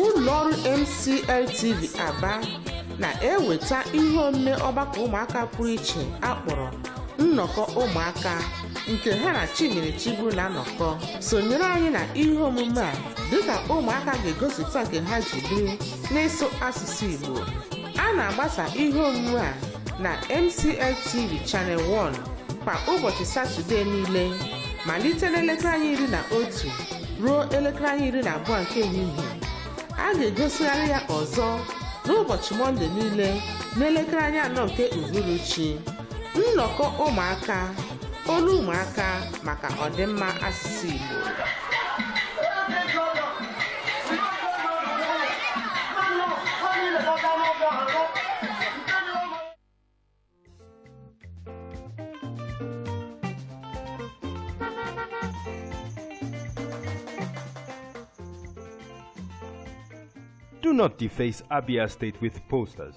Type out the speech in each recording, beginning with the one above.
ụlọọrụ MCL TV Aba na-eweta ihe omume ọgbakọ ụmụaka pụrụ iche akpọrọ nnọkọ ụmụaka nke ha na Chimere Chigbu na-anọkọ sonyere anyị na ihe omume a dịka ụmụaka ga-egosipụta nke ha ji biri n'ịsụ asụsụ Igbo a na-agbasa ihe omume a na MCL TV Channel 1 kwa ụbọchị Satọdee niile malite n'elekere anya iri na otu ruo elekere anya iri na abụọ nke ehihie a ga-egosigharị ya ọzọ n'ụbọchị Mọnde niile n'elekere anya anọ nke uhuruchi nnọkọ ụmụaka olu ụmụaka maka ọdịmma asụsụ Igbo Do not deface Abia State with posters.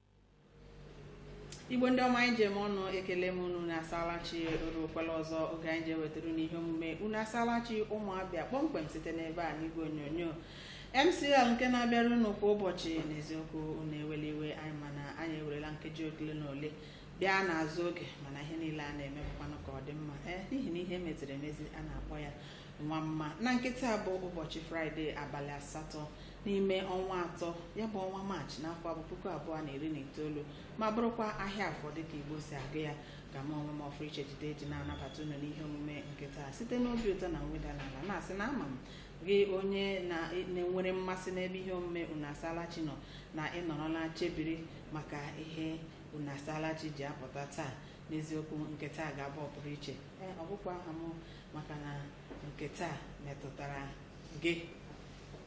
igbo ndị ọma anyị ji eme ọnụ ekele m unu unu asaala chi o rukwala ọzọ oge anyị ji ewetara unu ihe omume unu asaala chi ụmụ abịa kpọmkwem site n'ebe a n'igwe onyonyo mcl nke na-abịara unu kwa ụbọchị n'eziokwu unu ewele iwe anyị mana anyị ewerela nkeji ole na ole bịa n'azụ oge mana ihe niile a na-eme bụkwanụ ka ọ dị mma ee n'ihi na ihe meziri emezi a na-akpọ ya nwa mma na nke taa bụ ụbọchị fraịde abalị asatọ n'ime ọnwa atọ ya bụ ọnwa maachị n'afọ abụ puku abụọ na iri na itoolu ma bụrụkwa ahịa afọ dịka igbo si agụ ya ka m onwe m ọpụrụiche jide eji na-anabata unu n'ihe omume nke taa site n'obi ụtọ na mweda n'ala na-asị na ama m gị onye na- na-enwere mmasị n'ebe ihe omume unu asaala chi nọ na ị nọrọla chebiri maka ihe unu asaala chi ji apụta taa n'eziokwu nke taa ga-abụ ọpụrụ iche ee ọ bụkwa aha m maka na nke taa metụtara gị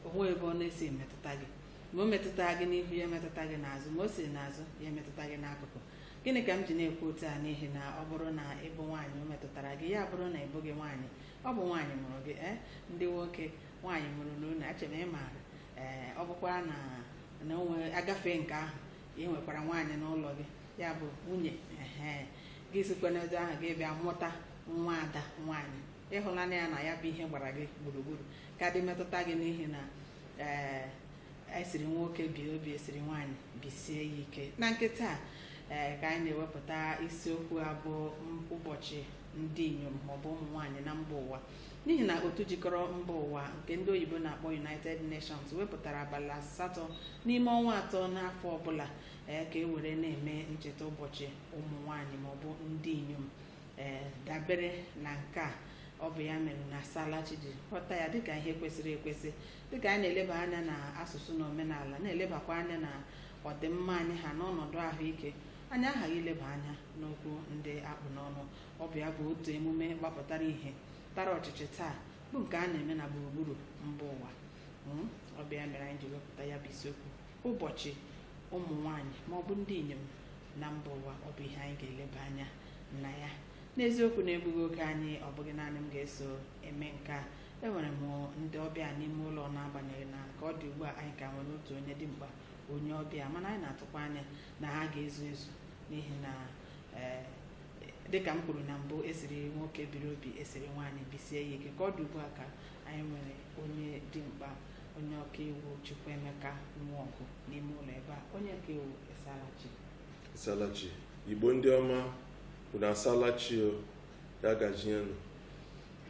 o nwe ebe ọ na-esi emetụta gị ma o metụta gị n'ihu ya emetụta gị n'azụ ma o si n'azụ ya emetụta gị n'akụkụ gịnị ka m ji na-ekwu otu a n'ihi na ọ bụrụ na ị bụ nwaanyị o metụtara gị ya bụrụ na ị bụghị nwaanyị ọ bụ nwaanyị mụrụ gị ee ndị nwoke nwaanyị mụrụ unu eche m ị maara ee ọ bụkwa na na onwe agafe nke ahụ ị nwekwara nwaanyị n'ụlọ gị ya bụ nwunye ehe gị sikwa n'ebe ahụ gị bịa mụta nwa ada nwaanyị ị hụla na ya na ya bụ ihe gbara gị gburugburu ka dị metụta gị n'ihi na ee esiri nwoke bie obi esiri nwaanyị bisie ya ike na nke taa ee ka anyị na-ewepụta isiokwu a bụ m- ụbọchị ndị inyom maọbụ ụmụ nwaanyị na mba ụwa n'ihi na otu jikọrọ mba ụwa nke ndị oyibo na-akpọ united nations wepụtara abalị asatọ n'ime ọnwa atọ n'afọ ọbụla ee ka e were na-eme ncheta ụbọchị ụmụ nwaanyị maọbụ ndị inyom ee dabere na nke a ọ bụ ya mere na Isalachi ji ghọta ya dịka ihe kwesịrị ekwesị dịka anyị na-eleba anya na asụsụ na omenala na-elebakwa anya na ọdịmma anyị ha na ọnọdụ ahụike anyị aghaghị ileba anya n'okwu ndị a kpụ n'ọnụ ọ bụ ya bụ otu emume gbapụtara ihe tara ọchịchị taa bụ nke a na-eme na gburugburu mba ụwa Mm, ọ bụ ya mere anyị ji wepụta ya bụ isiokwu ụbọchị ụmụ nwanyị ma ọ bụ ndị inyom na mba ụwa ọ bụ ihe anyị ga-eleba anya na ya n'eziokwu na-egbughị oge anyị ọ bụghị naanị m ga-eso eme nke a enwere m ndị ọbịa n'ime ụlọ n'agbanyeghị na ka ọ dị ugbu a anyị ka nwere otu onye dimkpa onye ọbịa mana anyị na-atụkwa anya na ha ga-ezu ezu n'ihi na ee dịka m kwuru na mbụ e siri nwoke biri obi e siri nwaanyị bisie ya ike ka ọ dị ugbu a ka anyị nwere onye dimkpa onye ọkaiwu Chukwuemeka Nwaọgụ n'ime ụlọ ebe a onye ọkaiwu Isalachi Isalachi Igbo ndị ọma unu asalachi o ya gazienụ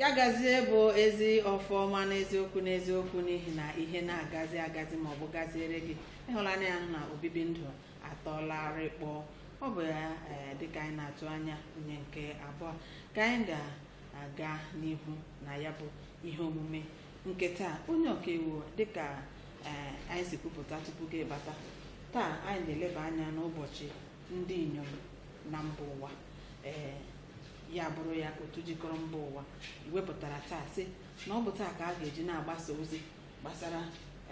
ya gazie bụ ezi ọfọ ọma n'eziokwu n'eziokwu n'ihi na ihe na-agazi agazi ma ọ bụ gaziere gị ị hụla na ya na obibi ndụ atọlarị kpọọ ọ bụ ya ee dịka anyị na-atụ anya onye nke abụọ ka anyị ga aga n'ihu na ya bụ ihe omume nke taa onye ọkaiwu dịka ee anyị si kwupụta tupu gị bata taa anyị na-eleba anya n'ụbọchị ndị inyom na mba ụwa ee ya bụrụ ya otu jikọrọ mba ụwa wepụtara taa sị na ọ bụ taa ka a ga-eji na-agbasa ozi gbasara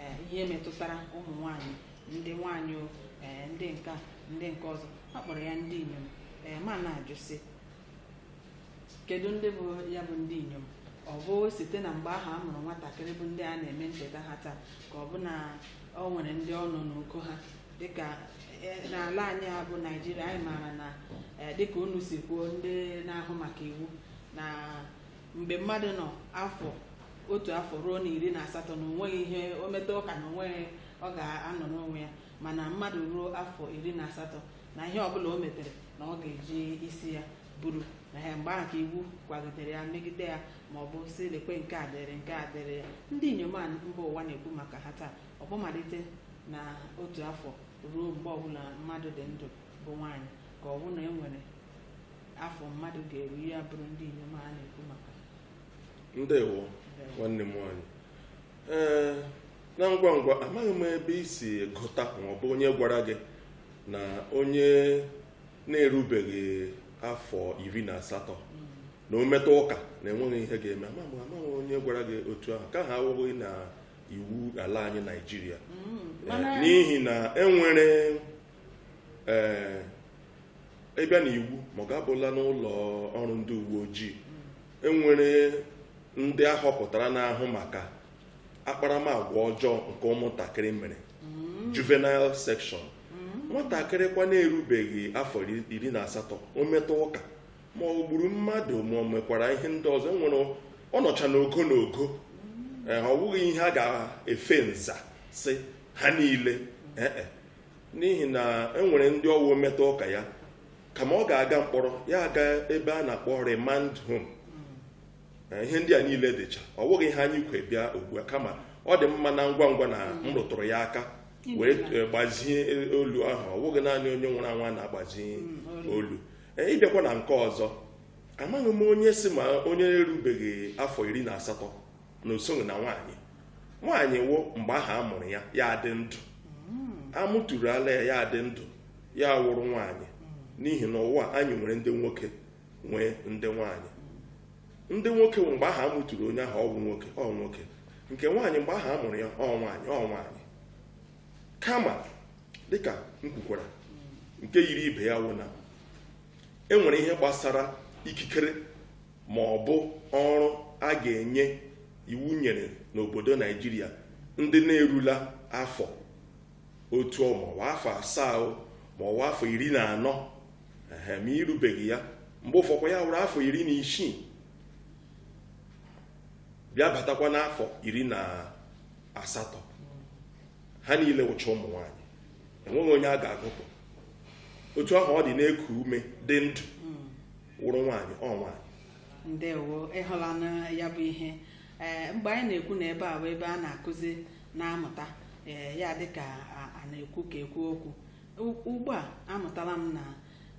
ee, ihe metụtara ụmụ nwanyị ndị nwanyị o, ee, ndị nka ndị nke ọzọ a kpọrọ ya ndị inyom ee ma na-ajụ sị kedu ndị bụ ya bụ ndị inyom ọ bụ site na mgbe ahụ a mụrụ nwatakịrị bụ ndị a na-eme ncheta ha taa ka ọ bụ na ọ nwere ndị ọ nọ n'uko ha dịka eh, n'ala anyị a bụ Naịjirịa anyị maara na eh, dịka unu si kwuo ndị na-ahụ maka iwu na mgbe mmadụ nọ afọ otu afọ ruo na iri na asatọ na o nweghị ihe o meta ụka na o nweghị ọ ga-anọrọ onwe ya mana mmadụ ruo afọ iri na asatọ na ihe ọbụla o metere na ọ ga-eji isi ya buru na ya mgbe ahụ ka iwu kwagidere ya megide ya ma ọ bụ si lekwe nke a dịrị nke a dịrị ya ndị inyom mba ụwa na-ekwu maka ha taa ọ bụ malite na otu afọ ruo mgbe ọbụla mmadụ dị ndụ bụ nwaanyị ka ọ bụ na e nwere afọ mmadụ ga-eru ya bụrụ ndị inyom a na-ekwu maka ndewo nwanne m nwaanyị ee na ngwa ngwa amaghị m ebe i si gụta ma ọ bụ onye gwara gị na onye na-erubeghị afọ iri na asatọ na o meta ụka na enweghị ihe ga-eme amaghị amaghị onye gwara gị otu ahụ nke ahụ awụghị na iwu ala anyị naijiria eh, n'ihi na enwere ị bịa eh, na iwu ma ọ ga-abụla n'ụlọ ọrụ ndị uwe ojii enwere ndị a họpụtara na-ahụ maka akparamagwa ọjọọ nke ụmụntakịrị mere mm. juvenile section mm. nwatakịrị kwa na-erubeghị afọ iri na asatọ o meta ụka ma ọ gburu mmadụ ma ọ mekwara ihe ndị ọzọ enwere ọ nọcha n'ogo n'ogo mm. eh, ọ wụghị ihe a ga-efe nza sị ha niile eh, eh. n'ihi na enwere ndị ọ wụ o meta ụka ya kama ọ ga-aga mkpọrọ ya aga ebe a na-akpọ remand home ihe ndị a niile dịcha ọ wụghị ihe anyị kwo bịa ugbu a kama ọ dị mma na ngwa ngwa na m mm. rụtụrụ ya aka wee eh, gbazie eh, olu ahụ ọ wụghị naanị onye nwụrụ anwụ a na-agbazi mm, olu eh, ị bịakwa na nke ọzọ amaghị m onye sị ma onye erubeghị afọ iri na asatọ na o soghị na nwaanyị nwaanyị wụ mgbe ahụ a mụrụ ya ya adị ndụ mm. a mụtụrụla ya ya adị ndụ ya wụrụ nwaanyị n'ihi na ụwa anyị nwere ndị nwoke nwee ndị nwaanyị ndị nwoke bụ mgbe ahụ a mụtụrụ onye ahụ ọ wụ nwoke ọ wụ nwoke nke nwaanyị mgbe ahụ a mụrụ ya ọ nwaanyị ọ nwaanyị kama dịka m kwukwara nke yiri ibe ya wụ na e nwere ihe gbasara ikikere ma ọ bụ ọrụ a ga-enye iwu nyere n'obodo naijiria ndị na-erula afọ otu o ma ọ wụ afọ asaa o ma ọ wụ afọ iri na anọ ehe ma i rubeghị ya mgbe ụfọkwa ya wụrụ afọ iri na isii bịa batakwa n'afọ iri na asatọ ha niile wụcha ụmụ nwaanyị enweghị onye a ga-agụpụ otu ahụ ọ dị na-eku ume dị ndụ wụrụ nwaanyị ọ nwaanyị ndewo ị hụlanụ ya bụ ihe ee mgbe anyị na-ekwu na ebe a bụ ebe a na-akụzi na-amụta ee ya dịka a- a na-ekwu ka ekwu okwu U- ugbu a amụtala m na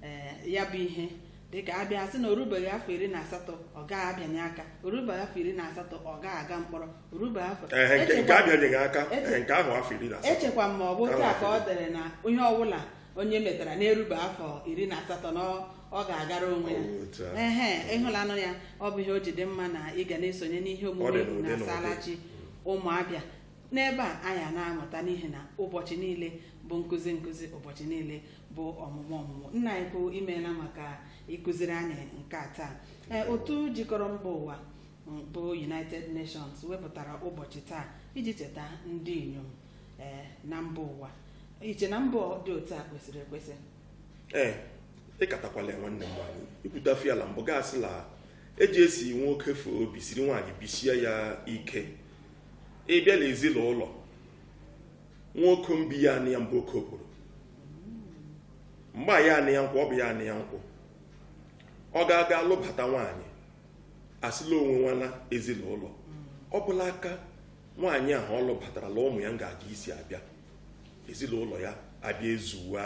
ee ya bụ ihe dịka a bịa sị na o rubeghị afọ iri na asatọ ọ gaghị abịanye aka o rubeghị afọ iri na asatọ ọ gaghị aga mkpọrọ o rubeghị afọ Ehe, nke nke Echekwa- abịanyeghị aka Eche- ehe, nke ahụ afọ iri na asatọ echekwa m ma ọ bụ Nke otu a ahụ ka afọ o dere na ihe ọbụla onye metara na-erube afọ iri na asatọ na ọ- ọ ga-agara onwe ya Ọ bụ otu ahụ. ehe ị hụlanụ ya ọ bụ ihe o ji dị mma na ị ga na-esonye n'ihe Ọ dị omume n'ụdị n'ụdị. unu asaala chi ụmụabịa n'ebe a anyị na-amụta n'ihi na ụbọchị niile bụ nkụzi nkụzi ụbọchị niile bụ ọmụmụ ọmụmụ nna anyị ukwu imeela maka ịkụziri anyị nke a taa ee otu jikọrọ mba ụwa bụ united nations wepụtara ụbọchị taa iji cheta ndị inyom ee na mba ụwa i che na mbọ dị otu a kwesịrị ekwesị ee ịkatakwala ya nwanne m nwaanyị ikwute afọ ya la mbụ ga-asị la eji esi nwoke fee obi siri nwaanyị bisie ya ike ịbịa la ezinụlọ nwoke mbi ya anị ya mbụ oke okporo mgbe ya anị ya nkwụ ọ bụ ya anị ya nkwụ ọ ga-aga alụbata nwaanyị asị la o nwenwana ezinụlọ ọ bụ la aka nwaanyị ahụ ọ lụbatara la ụmụ ya nga-eji isi abịa ezinụlọ ya abịa ezuwa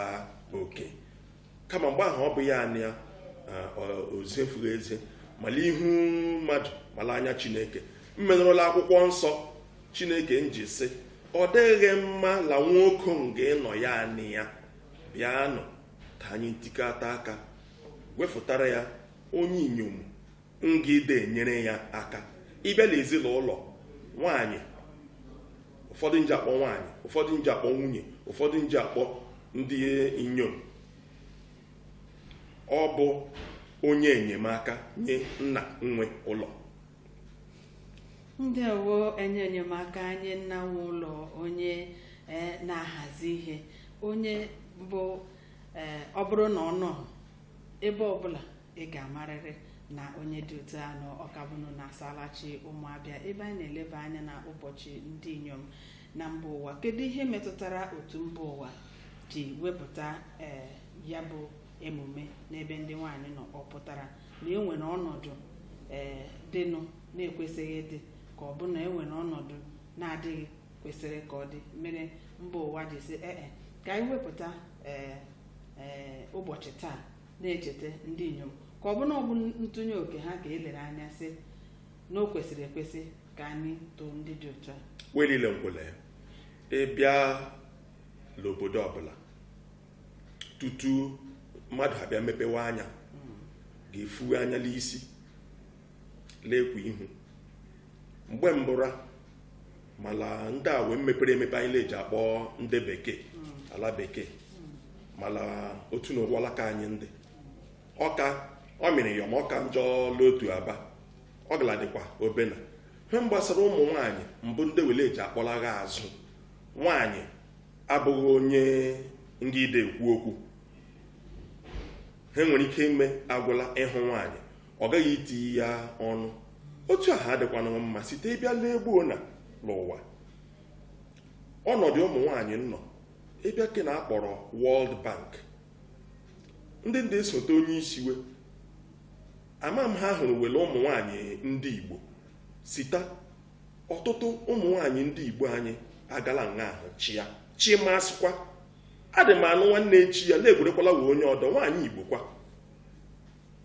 oke kama mgbe ahụ ọ bụ ya anị ya o ziefughị ezie ma la ihu mmadụ ma la anya chineke mmenụrụ la akwụkwọ nsọ chineke nji sị ọ dịghị mma la nwoke nga ịnọ ya anị ya bịanụ ka anyị ntikọta aka wefụtara ya onye inyom nga ide enyere ya aka ịbịa la ezinụlọ nwaanyị ụfọdụ nji akpọ nwaanyị ụfọdụ nji akpọ nwunye ụfọdụ nji akpọ ndị inyom ọ bụ onye enyemaka nye nna nwe ụlọ ndewo onye enyemaka nye nna nwe ụlọ onye eh, na-ahazi ihe onye bụ eh, ọ bụrụ na ọ nọ ebe ọbụla ị ga-amarịrị na onye dị otu a nọ ọkabụnụ na asalachi ụmụabịa ebe anyị na-eleba anya na ụbọchị ndị inyom na mba ụwa kedu ihe metụtara otu mba ụwa ji wepụta ee ya bụ emume n'ebe ndị nwaanyị nọ ọ pụtara na e nwere ọnọdụ ee dịnụ na-ekwesịghị ịdị ka ọ bụ na e nwere ọnọdụ na-adịghị kwesịrị ka ọ dị mere mba ụwa ji sị ee ka anyị wepụta ee ee ụbọchị taa na-echeta ndị inyom ka ọ bụ na ọ bụ ntụnye oke ha ka e lere anya sị na o kwesịrị ekwesị ka anyị too ndị dị otu a we liile ngụ la ya ịbịa la obodo ọbụla tutu mmadụ abịa mepewe anya ga-efuwe anya la isi la-ekwu ihe mgbe mbụra ma la ndị a we mepere emepe anyị la-eji akpọ ndị bekee ala bekee ma la otu na ụwa alaka anyị ndị ọka ọ mịrị ya ma ọka njọ la otu aba ọ galadịkwa obena ihe gbasara ụmụ nwaanyị mbụ ndị we la-eji akpọlagha azụ nwaanyị abụghị onye nga ide ekwu okwu ha nwere ike ime agwụla ịhụ nwaanyị ọ gaghị itiye ọnụ otu ahụ adịkwana mma site ị bịa lee gbuo na n'ụwa ọnọdụ ụmụ nwaanyị nọ ị bịa ke na akpọrọ World Bank ndị ndị esote onye isi we ama m ha hụrụ we la ụmụ nwaanyị ndị Igbo sita ọtụtụ ụmụ nwaanyị ndị Igbo anyị agala nga ahụ chịa chimasịkwa adị m anụ nwanne echi ya na-egwerekwala wee onye ọdọ nwaanyị Igbo kwa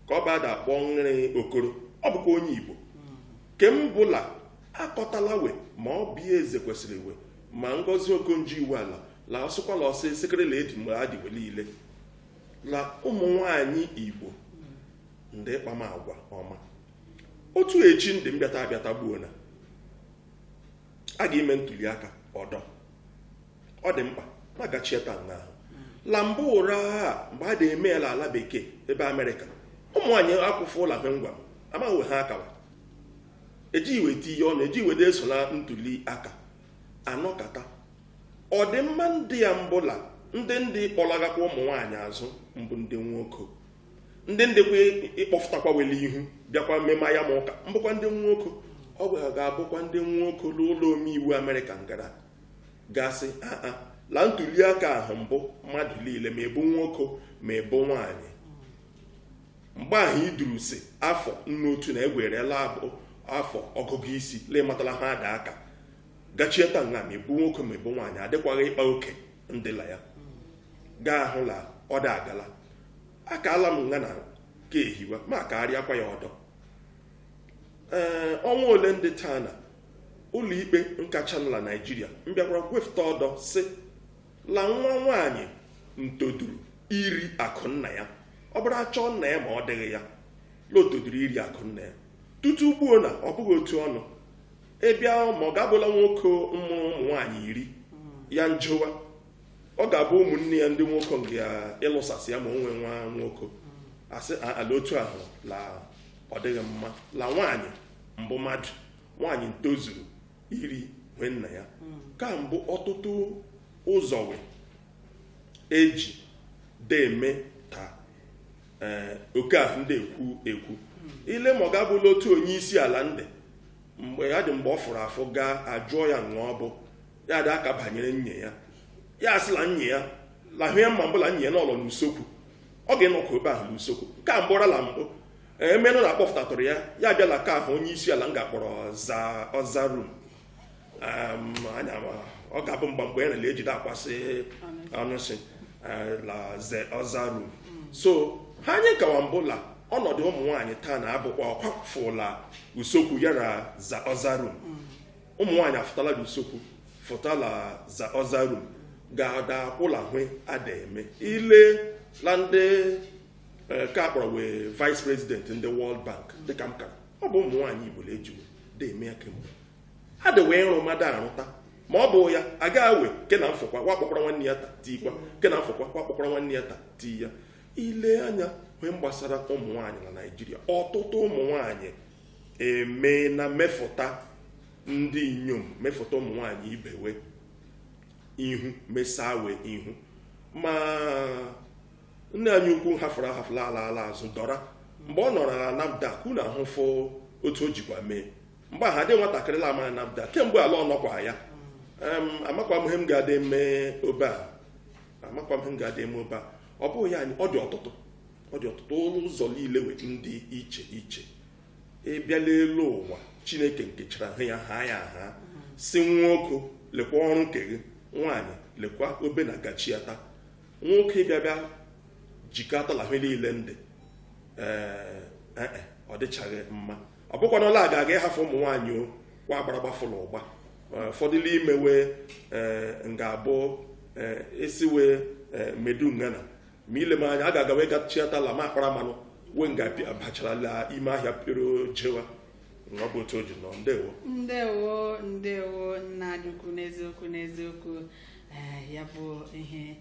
ka ọ bụ a da akpọ nrị okoro ọ bụkwa onye igbo ke m bụla akọtala we ma oby ezekwesili we ma ngozi okonjo iweala la ọsụkwala ọsọ esekere la edi mgbe adị we niile la ụmụ nwanyị igbo ndị ịkpama agwa ọma otu echi ndị mbịata abịata gbuo na a ga-ime ntuli aka ọdọ ọ dị mkpa ma gachieta nga ahụ la mbụ ụra a mgbe a na-eme ya n'ala bekee ebe amerịka ụmụ nwaanyị akwụfụ ụlọ ahụ ngwa m amaghị we ha akawa ejighị we tiye ọnụ ejighị we na-eso na ntuli aka anọkata ọdịmma ndị ya mbụla ndị ndị kpọlagakwa ụmụ nwaanyị azụ mbụ ndị nwoke ndị ndịkwa ịkpọfụtakwa we la ihu bịakwa mmemme ya ma ụka mbụkwa ndị nwoke ọ bịa ga-abụkwa ndị nwoke n'ụlọ omeiwu amerịka ngara ga sị aa la ntuliaka ahụ mbụ mmadụ niile ma ị bụ nwoke ma ị bụ nwaanyị mgbe ahụ iduru si afọ nnu otu na egwerela abụ afọ ọgụgụ isi la amatala ha a da aka gachieta nga ma ị bụ nwoke ma ị bụ nwaanyị adịkwaghị ịkpa oke ndị la ya ga-ahụ la ọ da agala akaala m nga na ka ehiwa ma akarịakwa ya ọdọ ee ọnwa ole ndị taa na ụlọikpe nkachanụ la naijiria mbịakwara gwefụta ọdọ sị la nwa nwaanyị ntoduru iri akụ nna ya ọ bụrụ achọọ nna ya ma ọ dịghị ya la o toduru iri akụ nna ya tutu gbuo na ọ bụghị otu ọ nọ ị bịa ma ọ ga-abụla nwoke mụrụ ụmụ nwaanyị iri ya njowa ọ ga-abụ ụmụnne ya ndị nwoke nga ịlụsasị ya ma o nwee nwa nwoke asị "A- ala otu ahụ la ọ dịghị mma la nwaanyị mbụ mmadụ nwaanyị ntozuru iri ihe nna ya ka mbụ ọtụtụ ụzọ we eji deme ta ee oke ahụ ndị ekwu ekwu i lee ma ọ ga-abụla otu onye isi ala ndị mgbe ya dị mgbe ọ fụrụ afụ gaa ajụọ ya onye ọ bụ ya da-aka banyere nwunye ya ya asị la nwunye ya la hwe ya ma mbụ la nwunye ya n'ụlọ n'usokwu ọ ga-enọkwa ebe ahụ n'usokwu nke a mbụrala mbụ emenụ na akpọpụtatụrụ ya ya abịa la ke ahụ onye isi ala m ga-akpọrọ the other room anya ọ ga-abụ mgba mgbe ya nele ejide akwasị anụsị la other room so hwe anyị kawa mbụ la ọnọdụ ụmụ nwaanyị taa na-abụkwa ọ kwafụla usokwu ya na the other room ụmụ nwaanyị afụtala la usokwu fụta la other room ga-ada akwụ la hwe ada eme ile la ndị eh, ka akpọrọ we vice president ndị World Bank dịka m kara ọ bụ ụmụ nwaanyị Igbo la eji we da eme ya kemgbe ha de wee ịrụ mmadụ arụta ma ọ bụ ya aga awe ke na mfụkwa we akpọkwara nwanne ya ta tiikwa ke na mfụkwa we akpọkwara nwanne ya ta tii ya ile anya ihe gbasara ụmụ nwaanyị na Naijiria ọtụtụ ụmụ nwaanyị eme na mefụta ndị inyom mefụta ụmụ nwanyị ibe we ihu mesaa we ihu ma nne anyị ukwu hafụrụ ahafụ laa ala ala azụ Dora mgbe ọ nọrọ na NAFDAC unu ahụfụ otu o jikwa mee mgbe ahụ adị nwatakịrị la ama NAFDAC kemgbe ala ọ nọkwa ya Em, amakwa m ihe m ga-adị eme obe a amakwa m ihe m ga-adị eme obe a ọ bụghị ya anyị ọ dị ọtụtụ ọ dị ọtụtụ n'ụzọ niile we ndị iche iche ịbịa n'elu ụwa Chineke nkechara ha ya ha ya asị nwoke lekwa ọrụ nke gị nwaanyị lekwa obe na gachiata nwoke bịa bịa jikọtala ihe niile ndị ee e, e, ọ dịchaghị mma ọ bụkwanụ ọ la aga-aga ịhafụ ụmụ nwaanyị o kwa agbara gbafụrụ ụgba ụfọdụ n'ime we e, nga-abụ esiwe medu ngana ma ile m anya a ga-agawa gachiatala ma akpara mmanụ we nga bacharala ime ahịa pịro jewa ọ bụ otu o ji nọ ndewo ndewo ndewo nna anyị ukwu n'eziokwu n'eziokwu ee ya bụ ihe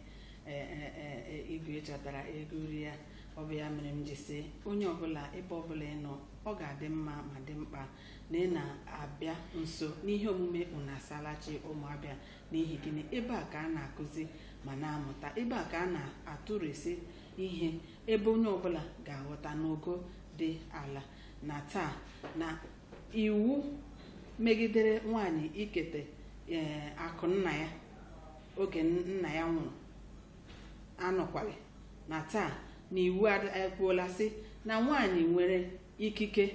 ee, ee, ee, ee, igwe chọtara ego uri ya ọ bụ ya mere m ji sị onye ọbụla ebe ọbụla ị nọ ọ ga-adị mma ma dị mkpa na ị na-abịa nso n'ihe omume unasalachi ụmụ Abịa n'ihi gịnị ebe a ka a na-akụzi ma na-amụta ebe a ka a na-atụrụsị ihe ebe onye ọbụla ga-aghọta n'ogo dị ala na taa na iwu megidere nwaanyị ikete ee akụ nna ya oge nna ya nwụrụ anọkwaghị na taa na iwu ekwuola sị na nwaanyị nwere ikike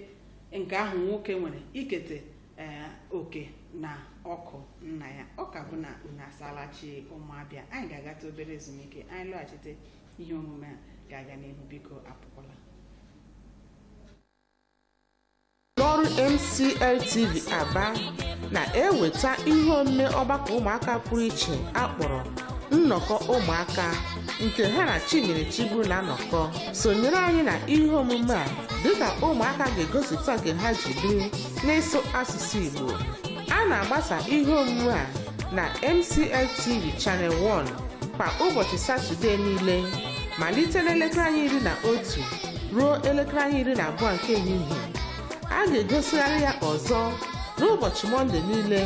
nke ahụ nwoke nwere ikete ee oke na ọkụ nna ya ọ ka bụ na unu asaala chi ụmụ Abịa anyị ga-agata obere ezumike anyị lọghachite ihe omume a ga-aga n'ihu biko apụkwala ụlọ ọrụ MCL TV Aba na-eweta ihe omume ọgbakọ ụmụaka pụrụ iche a kpọrọ nnọkọ ụmụaka nke ha na Chinyere Chigbu na-anọkọ sonyere anyị na ihe omume a dịka ụmụaka ga-egosipụta nke ha ji biri n'ịsụ asụsụ Igbo a na-agbasa ihe omume a na MCL TV Channel 1 kwa ụbọchị Satọdee niile malite n'elekere anya iri na otu ruo elekere anya iri na abụọ nke ehihie a ga-egosigharị ya ọzọ n'ụbọchị Mọnde niile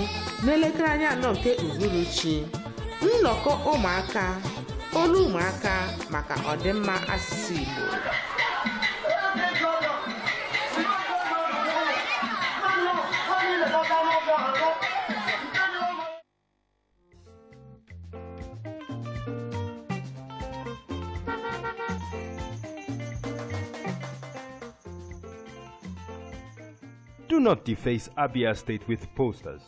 n'elekere anya anọ nke uhuruchi nnọkọ ụmụaka olu ụmụaka maka ọdịmma asụsụ Igbo Do not deface Abia State with posters.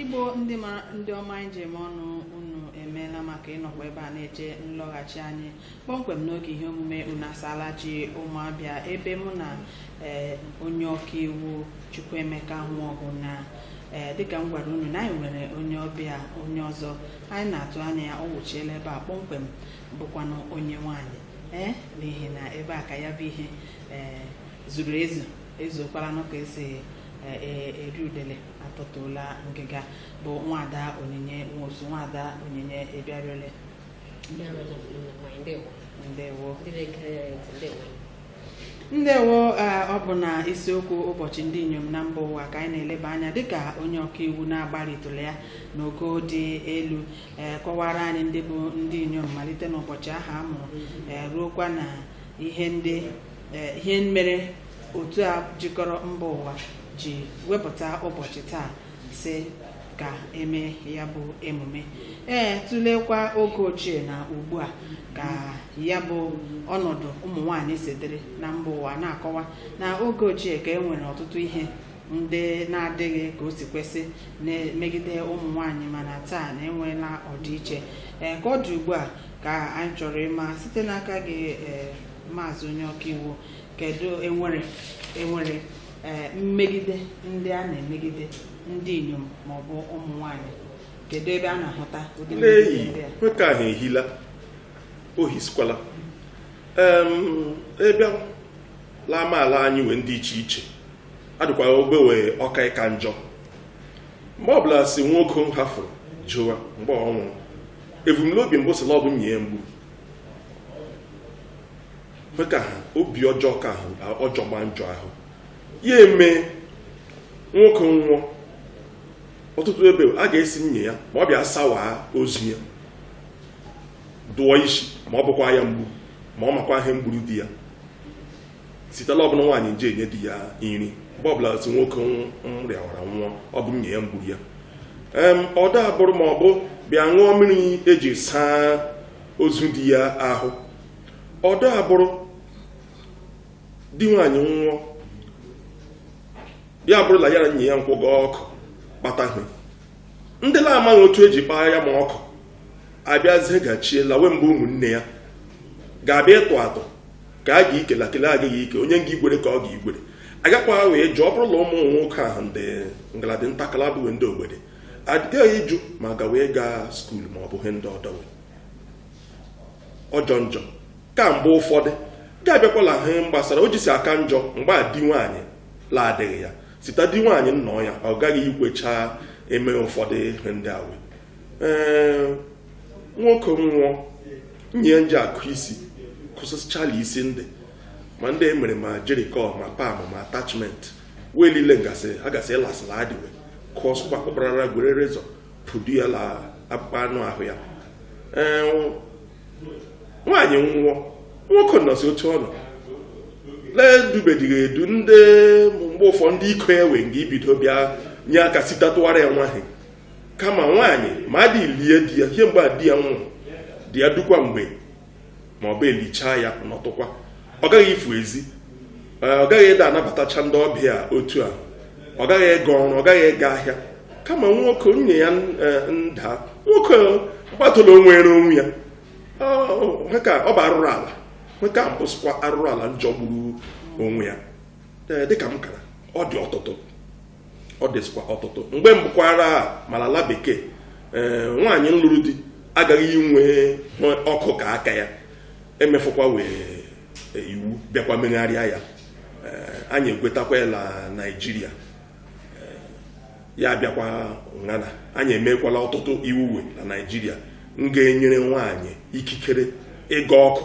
igbo ndị ọma anyị ji eme ọnụ unu emeela maka ịnọkwa ebe a na-eche nlọghachi anyị kpọmkwem n'oge ihe omume unu asaala chi ụmụ abịa ebe mụ na ee, onye ọka iwu chukwuemeka nwaọgụ na ee, dịka m gwara unu na anyị nwere onye ọbịa onye ọzọ anyị na-atụ anya ya ọ wụchiela ebe a kpọmkwem bụkwanụ onye nwaanyị ee eh, n'ihi na ebe a ka ya bụ ihe ee eh, zuru ezu ezuokwaranụ ka esi eh, e, eri udele atọtuola ngịga bụ nwada onyinye nwosu nwada onyinye ị bịaruole ndewo ndewo ee, ọ bụ na isiokwu ụbọchị ndị inyom na mba ụwa ka anyị na-eleba anya dịka onye ọkaiwu na-agbarịtụla ya n'ogo dị elu ee, kọwara anyị ndị bụ ndị inyom malite n'ụbọchị aha a mụrụ ee, ruokwa na ihe ndị ee, ihe mere otu a jikọrọ mba ụwa ji wepụta ụbọchị taa sị ka e mee ya bụ emume ee tụlekwa oge ochie na ugbu a ka ya bụ ọnọdụ ụmụ nwaanyị si dịrị na mba ụwa na-akọwa na oge ochie ka e nwere ọtụtụ ihe ndị na-adịghị ka o si kwesị na-emegide ụmụ nwaanyị mana taa na enweela ọdịiche ee ka ọ dị ugbu a ka anyị chọrọ ịma site n'aka gị ee maazị onye ọkaiwu kedu enwere enwere ee mmegide ndị a na-emegide ndị inyom maọbụ ụmụ nwanyị kedu ebe a na-ahụta ụdị mmegide ndị a nwoke ahụ ehila ohisikwala Em, ebe la amaala anyị wee ndị iche iche adịkwara ogbe wee ọ ka ịka njọ mgbe ọbụla sị nwoke nhafụrụ ụwa mgbe ọ nwụrụ ebumnobi mbụ sị la ọ bụ nye ya mgbu ka ha obi ọjọọ ka ọ jọgba njọ ahụ ya eme nwoke nwụọ ọtụtụ ebe a ga-asị nye ya ma ọ bịa sawa ozu ya dụọ isi ma ọ bụkwa ya mgbu ma ọ makwa ihe mgburu di ya site la ọ bụ nwaanyị nje enye di ya nri mgbe ọbụla sị nwoke nrịawara nwụọ ọ bụ nye ya mgburu ya ọdọ abụrụ ma ọ bụ bịa ṅụọ mmiri e ji saa ozu di ya ahụ ọdọ abụrụ di nwaanyị nwụọ ya bụrụ la ya la nye ya nkwụ gaa ọkụ kpata ihe ndị na-amaghị otu e ji kpaa ya ma ọkụ abịazie gachie lawe mgbe ụmụnne ya ga-abịa ịtụ atụ ka a ga-ikele akele agaghị ike onye nga igwere ka ọ ga-igwere agakwa wee jụọ ọ bụrụ na ụmụ nwoke ahụ ndị ngala dị ntakala bụ ndị ogbede agaghị ịjụ ma ga wee gaa skuul ma ọ bụ ihe ndị ọdọ we ọjọ njọ ka mgbe ụfọdụ ga-abịakwala ihe gbasara o jisi aka njọ mgbe di nwaanyị la adịghị ya site di nwaanyị nnọọ ya ọ gaghị ikwecha eme ụfọdụ ihe ndị a we ee nwoke nwụọ nye ya nje akụ isi kụsịchala isi ndị ma ndị e mere ma jerry curl ma perm ma attachment wee niile ngasị ịlasịla adịwe kụọ sụkwa kpụkparara gwere razor pụdu ya la akpụkpọ anụ ahụ ya nwaanyị nwụọ nwoke nọzi otu ọ nọ la edubedighị edu ndị mgbe ụfọ ndị iko ya wee nga ibido bịa nye aka sitatụwara ya nwaanyị kama nwaanyị ma adị lie di ya ihe mgbe a di ya nwụrụ di ya dukwa mgbe ma ọ bụ elichaa ya nọtụkwa ọ gaghị ifu ezi ọ gaghị ịda anabatacha ndị ọbịa otu a ọ gaghị ịga ọrụ ọ gaghị ịga ahịa kama nwoke nwunye ya nda nwoke mkpatụla o nwere onwe ya ka ọ bụ arụrụ ala nke a mbụsịkwa arụrụ ala njọgburu onwe ya dịka m kara ọ dị ọtụtụ ọ dịsịkwa ọtụtụ mgbe mbụkwara ma la ala bekee ee nwaanyị nlụrụ di agaghị inwe ọkụ ka aka ya emefụkwa wee e, iwu bịakwa megharịa ya anyị egwetakwa ya la naijiria ya bịakwa ngana anyị emekwala ọtụtụ iwu la naijiria nga-enyere nwaanyị ikikere ịga ọkụ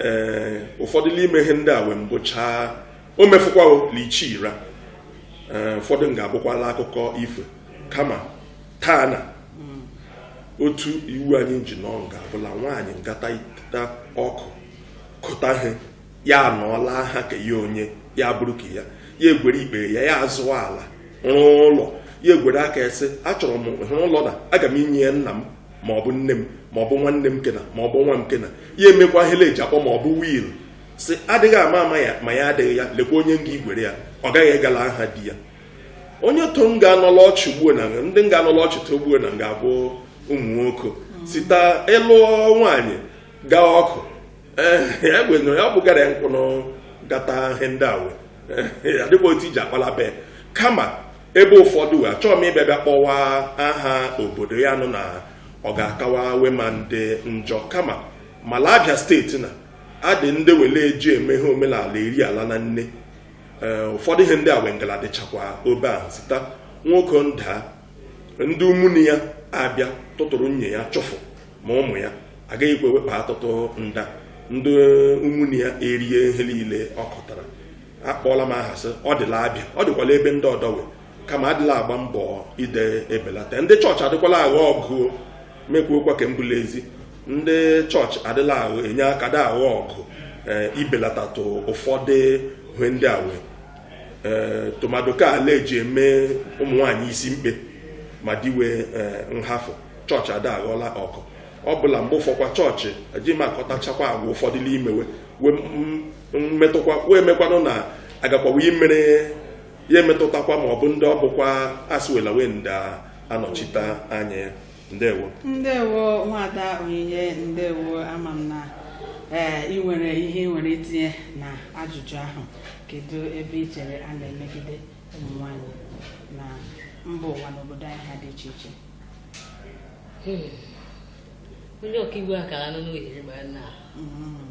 ee ụfọdụ n'ime ihe ndị a wee mbụchaa o mefụkwawo lichi ira ee ụfọdụ nga-abụkwala akụkọ ifo kama taa na otu iwu anyị ji nọ nga-abụ la nwaanyị ngata ita ọkụ kụta ihe ya anọọ la aha ke ya onye ya bụrụ ke ya ya egwere ikpeghe ya ya azụọ ala rụọ ụlọ ya egwere aka ya sị achọrọ m ịrụ ụlọ na aga m inye ya nna m ma ọ bụ nne m ma ọ bụ nwanne m kena ma ọ bụ nwa m kena ya emekwa ihe la eji akpọ ma ọ bụ will si adịghị ama ama ya ma ya adịghị ya lekwa onye nga igwere ya ọ gaghị aga la aha di ya onye to nga-anọ la ọchị ugbuo na ndị nga-anọ la ọchị taa ugbuo na nga-abụ ụmụ nwoke sita ịlụ nwaanyị gaa ọkụ ee ya gwenye ya bụgara ya nkwụnụ gata ihe ndị a wee adịkwa otu eji akpa la bee kama ebe ụfọdụ wee achọghị m ịbịa bịa kpọwa aha obodo ya nụ na ọ ga-akawa we ma ndị njọ kama ma la Abịa steeti na adị ndị we la eji eme ihe omenala eri ala na nne eh, ụfọdụ ihe ndị a wee ngala dịchakwa obe ahụ sita nwoke nda ndị ụmụnne ya abịa tụtụrụ nwunye ya chụfụ ma ụmụ ya agaghị ekwe we kpa atụtụ nda ndị ụmụnne ya erie ihe niile ọ kọtara akpọọla m aha sị ọ dị la Abịa ọ dịkwa la ebe ndị ọdọ wee kama adịla agba mbọ ide ebelata ndị chọọchị adịkwala aghọ ọgụ ma ekwuokwa ke mbụ la ezi ndị chọọchị adịla ahụ enye aka da aghọ ọgụ eh, ibelatatụ ụfọdụ ihe ndị a wee eh, tụmadụ ke a la eji eme ụmụ nwaanyị isi mkpe ma di we eh, nhafụ chọọchị ada aghọla ọgụ ọ bụ la mgbe ụfọkwa chọọchị ejighị amatachakwa agwa ụfọdụ n'ime we wee mmetụkwa wee mekwanụ na agakwa we imere ya emetụtakwa ma ọ bụ ndị ọ bụkwa asịwela wee ndị anọchite anya ya ndewo ndewo nwada Onyinye ndewo ama m na ee ị nwere ihe ị nwere itinye na ajụjụ ahụ kedu ebe ị chere a na-emegide ụmụ nwanyị na mba ụwa n'obodo anyị ha dị iche iche onye ọkaiwu akara nọ n'ohere ma na Mm.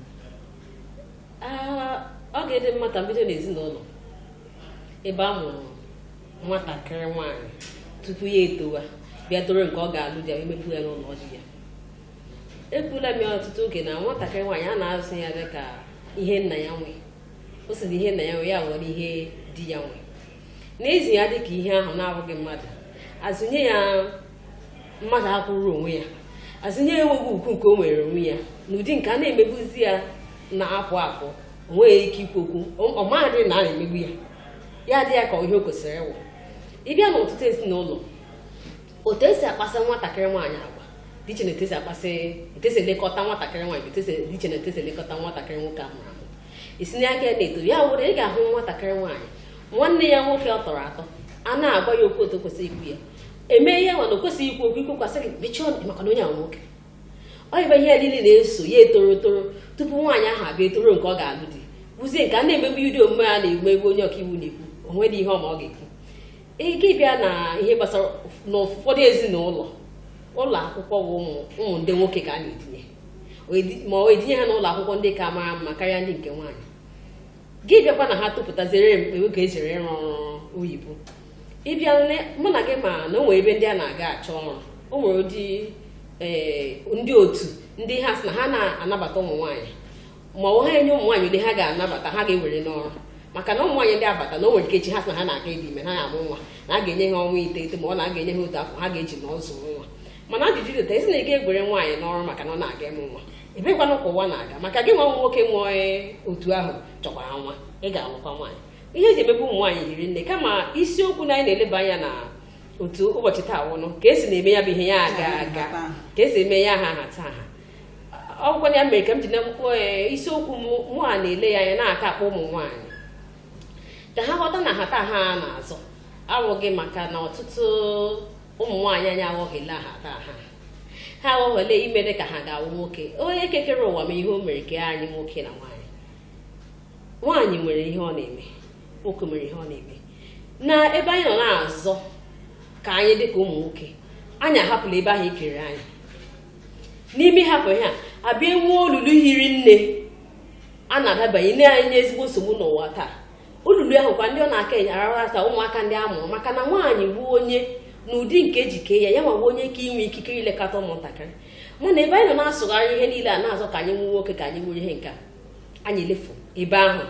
ọ ga-adị mma ka m bido n'ezinụlọ ebe a mụrụ nwatakịrị nwaanyị tupu ya etowa bịa toruo nke ọ ga-alụ di ya emepụ ya n'ụlọ di ya ekwula m ya ọtụtụ oge na nwatakịrị nwaanyị a na-azụ ya dị ka ihe nna ya nwe o si na ihe nna ya nwe ya awụrụ ihe di ya nwe n'ezi ya dịka ihe ahụ na-abụghị mmadụ azụnye ya mmadụ akwụrụ onwe ya azụnye ya enweghị ugwu nke o nwere onwe ya n'ụdị nke a na-emegbuzi ya na-akụ akụ onweghị ike ikwu okwu ọ maghị na a na-emegbu ya ya dị ya ka ihe o kwesịrị ịwụ ị bịa n'ọtụtụ ezinụlọ otu esi akpaso nwatakịrị nwaanyị agwa dị iche na etu esi akpasị etu esi elekọta nwatakịrị nwaanyị etu esi dị iche na etu esi elekọta nwatakịrị nwoke ahụ isi n'aka ya na-eto ya wụrụ ị ga-ahụ nwatakịrị nwaanyị nwanne ya nwoke ọ tọrọ atọ a na-agwa ya okwu otu kwesịrị ikwu ya eme ihe nwa na o kwesịghị ikwu okwu i kwukwa a sị gị mechie ọnụ maka na onye a wụ nwoke ọ yịba ihe niile na-eso ya etoro toro tupu nwaanyị ahụ abịa etoro nke ọ ga-alụ di bụzie nke a na-emegbu ụdị omume a na-egbu egbu onye ọkaiwu na-ekwu o nwedị ihe ọma ọ ga-ekwu ike ịbịa na ihe gbasara n'ụfọdụ ezinụlọ ụlọ akwụkwọ bụ ụmụ ndị nwoke ka a na-etinye ma ọ etinye ha n'ụlọ akwụkwọ ndị ka mara mma karịa ndị nke nwaanyị gị bịakwa na ha tụpụtaziere mgbe oge ejere ịrụ ọrụ oyibo ị bịa mụ na gị ma na o nwere ebe ndị a na-aga achọ ọrụ o nwere ụdị eh, ndị otu ndị ha sị na ha na-anabata ụmụ nwaanyị ma ọ ha enye ụmụ nwaanyị ndị ha ga-anabata ha ga-ewere n'ọrụ maka na ụmụ nwaanyị ndị abata na o nwere ike echi ha sị na ha na-aga ịdị ime na ya amụ nwa na a ga-enye ha ọnwa iteghete ma ọ na a ga-enye ha otu afọ ha ga-eji na-azụ nwa mana ajụjụ dịta ezi na ị gaghị ewere nwaanyị n'ọrụ maka na ọ na-aga ịmụ nwa ebekwanụ ka ụwa na-aga maka gị nwa nwoke nwe otu ahụ chọkwara nwa ị ga-alụkwa nwaanyị ihe eji emegbu ụmụ nwaanyị hiri nne kama isiokwu na anyị na-eleba anya na otu ụbọchị taa wụnụ ka esi na-eme ya bụ ihe ya aga aga ka esi eme ya ha nhatanha ọ wụkwa ya mere ka m ji na eh, isiokwu mụ a na-ele ya anya na-aka akpọ ụmụ nwaanyị ka ha ghọta na nhatanha a na-azọ awụghị maka na ọtụtụ ụmụ nwaanyị anyị aghọhiela nhatanha ha aghọhiela ime dị ka ha ga-awụ nwoke onye kekere ụwa ma ihe o mere kee anyị nwoke na nwaanyị nwaanyị nwere ihe ọ na-eme nwoke nwere ihe ọ na-eme na ebe anyị nọ na-azọ ka anyị dị ka ụmụ nwoke anyị ahapụla ebe ahụ ekere anyị n'ime hapụ ihe a abịa enwe olulu hiri nne a na-adabanye na-enye ezigbo nsogbu n'ụwa taa olulu ahụ kwa ndị ọ na-aka enye arara ata ụmụaka ndị a mụrụ maka na nwaanyị bụ onye n'ụdị nke e ji kee ya ya wụ onye ka inwe ikikere ilekọta ụmụntakịrị mana ebe anyị nọ na-asụgharị ihe niile a na-azọ ka anyị nwee nwoke ka anyị nwere ihe nke a anyị elefu ebe ahụ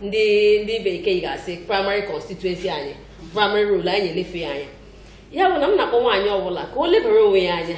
ndị ndị bekee ga-asị primary constituency anyị primary role anyị elefu ya anya ya bụ na m na-akpọ nwaanyị ọbụla ka o lebara onwe ya anya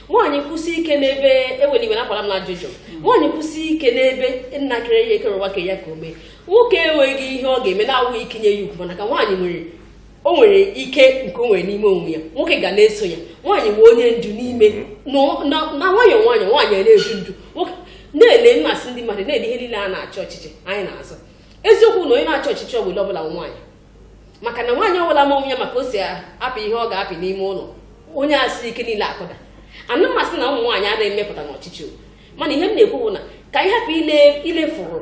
nwaanyị kwụsị ike n'ebe ewere iwe nakwara m na ajụjụ nwaanyị kwụsị ike n'ebe nna kere ya kere ụwa ke ya ka o mee nwoke enweghị ihe ọ ga-eme na-awụ ịkwanye ya ugwu mana ka nwaanyị nwere o nwere ike nke o nwere n'ime onwe ya nwoke ga na-eso ya nwaanyị wụ onye ndu n'ime na nwayọọ nwayọọ nwaanyị na-edu ndu nwoke na-ele m asị ndị mmadụ na-ele ihe niile a na-achị ọchịchị anyị na-azụ eziokwu na onye na-achị ọchịchị ọ bụla ọbụla nwaanyị maka na nwaanyị ọbụla ma onwe ya ma ka o si apị ihe ọ ga-apị n'ime ụlọ onye asị ike niile akụda ana m asị na ụmụ nwaanyị anaghị emepụta n'ọchịchị o mana ihe m na-ekwu bụ na ka anyị hapụ ilefuru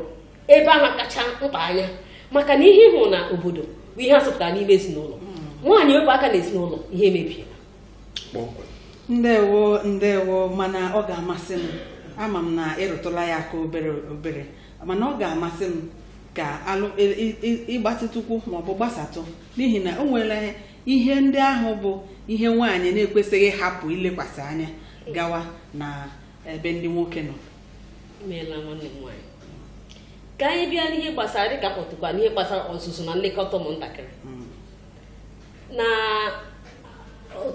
ebe ahụ kacha mkpa anya maka na ihe ị hụ na obodo bụ ihe a zụpụtara n'ime ezinụlọ nwaanyị wepụ aka na ezinụlọ ihe emebiela ndewo ndewo mana ọ ga-amasị m ama m na ị rụtụla ya aka obere obere mana ọ ga-amasị m ka ị gbatịtụkwuo maọbụ gbasatụ n'ihi na o nwere ihe ndị ahụ bụ ihe nwaanyị na-ekwesịghị hapụ ilekwasị anya gawa na ebe ndị nwoke nọ imeela nwanne m nwaanyị ka anyị bịa n'ihe gbasara dịka kpọtụkwa n'ihe gbasara ọzụzụ na nlekọta ụmụntakịrị na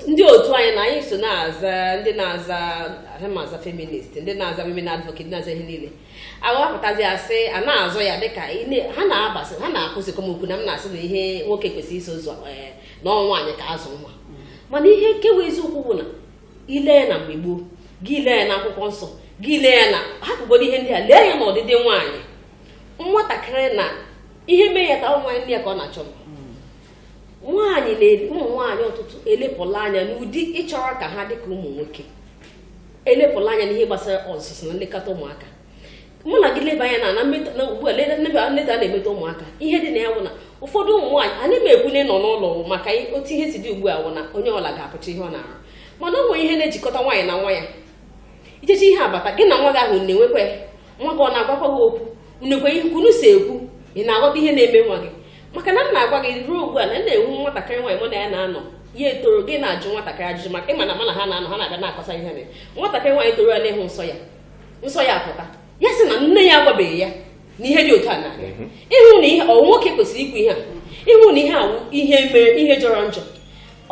ndị otu anyị na anyị so na-aza ndị na-aza feminist ndị na-aza women advocate na-aza ihe niile aghọpụtazi asị a na-azọ ya dịka ha na-abasị ha na-akụzikọ m okwu na m na-asị na ihe nwoke kwesịrị iso ụzọ eh, na ọ nwaanyị ka azụ nwa mana ihe nke wụ eziokwu bụ na i lee anya na mgbe gboo gị lee anya na akwụkwọ nsọ gị lee anya na hapụgodo ihe ndị a lee anya na ọdịdị nwaanyị nwatakịrị na ihe mee ya ka ụmụ nwaanyị nne ya ka ọ na-achọ nwaanyị na ụmụ nwaanyị ọtụtụ elepụla anya n'ụdị ịchọ ka ha dị ka ụmụ nwoke elepụla anya n'ihe gbasara ọzụzụ na nlekọta ụmụaka mụ na gị leba anya na na ugbu a mmetọ a na-emetọ ụmụaka ihe dị na ya bụ na ụfọdụ ụmụ nwaanyị anyị ma ebune nọ n'ụlọ maka otu ihe si dị ugbu a wụ na onye ọbụla ga-apụcha ihe ọ na-arụ mana o nwere ihe na-ejikọta nwaanyị na nwa ya i jechaa ihe abata gị na nwa gị ahụ na-enwekwa nwa gị ọ na-agwakwa gị okwu unu enwekwa ihe unu si ekwu ị na-aghọta ihe na-eme nwa gị maka na m na-agwa gị ruo ugbu a na na-enwe nwatakịrị nwaanyị mụ na ya na-anọ ya etoro gị na-ajụ nwatakịrị ajụjụ maka ị ma na mụ na ha na-anọ ha na-abịa na-akọta ihe na nwatakịrị nwaanyị toro ya n'ịhụ nsọ ya nsọ ya apụta ya sị na nne ya agwabeghị ya na ihe dị otu a na mhm. ị hụ na ihe ọ nwoke kwesịrị ikwu ihe a ị hụ na ihe a wụ ihe mere ihe jọrọ njọ